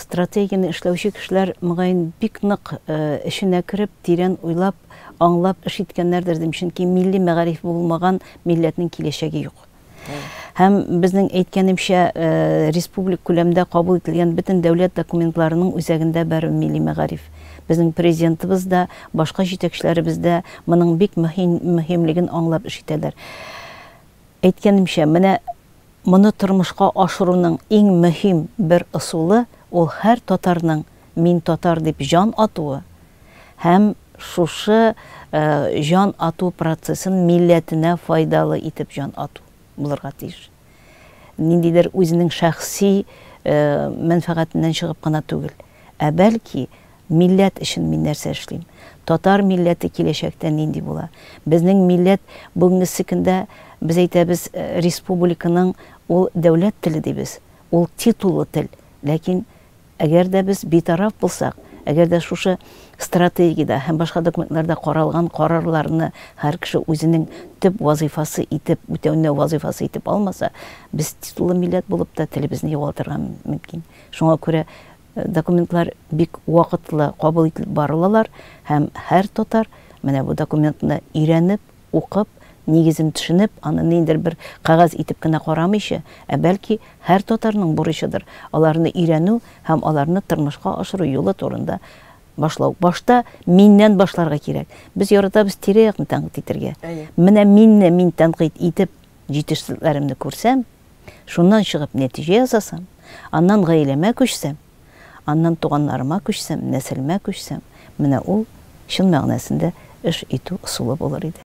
Стратегияне эшләүче кешеләр, мөгаен, бик нык эченә кереп, тирән уйлап, аңлап эш иткәннәрдер, дим, чөнки милли мәгариф булмаган милләтнең киләчәге юк. Һәм безнең әйткәнемчә, республик күләмдә кабул ителгән бөтен дәүләт документларының үзәгендә бәрү милли мәгариф. Безнең Президентыбыз да, башка җитәкчеләребез дә моның бик мөһимлеген аңлап эш итәләр. Әйткәнемчә, менә Моны тормышка ашыруның иң мөһим бер ысулы ул һәр татарның мин татар дип җан атуы һәм шушы җан ату процессын милләтенә файдалы итеп җан ату булырга тиеш. Ниндидер үзенең шәхси мәнфәгатеннән чыгып кына түгел, ә бәлки Милләт өчен мин нәрсә эшлим? Татар милләте киләчәктә нинди була? Безнең милләт бүгенгесе көндә без әйтәбез, республиканың ул дәүләт теле дибез, ул титуллы тел. Ләкин әгәр дә без битараф булсак, әгәр дә шушы стратегиядә һәм башка документларда каралган карарларны һәр кеше үзенең төп вазыйфасы итеп, үтәүне вазыйфасы итеп алмаса, без титуллы милләт булып та телебезне югалтырга мөмкин. Шуңа күрә Документлар бик вакытлы кабул ителеп барылалар һәм һәр татар менә бу документны өйрәнеп, укып, нигезен төшенеп, аны ниндер бер кәгазь итеп кенә карамыйча, ә бәлки һәр татарның бурычыдыр, аларны өйрәнү һәм аларны тормышка ашыру юлы турында башлау. Башта миннән башларга кирәк. Без яратабыз тирә-якны тәнкыйть итәргә. Әйе. Менә минне мин тәнкыйть итеп, җитешсезлекләремне күрсәм, Шуннан чыгып нәтиҗә ясасам, аннан гаиләмә күчсәм, аннан туганнарыма күчсәм, нәселемә күчсәм, менә ул чын мәгънәсендә эш итү ысулы булыр иде.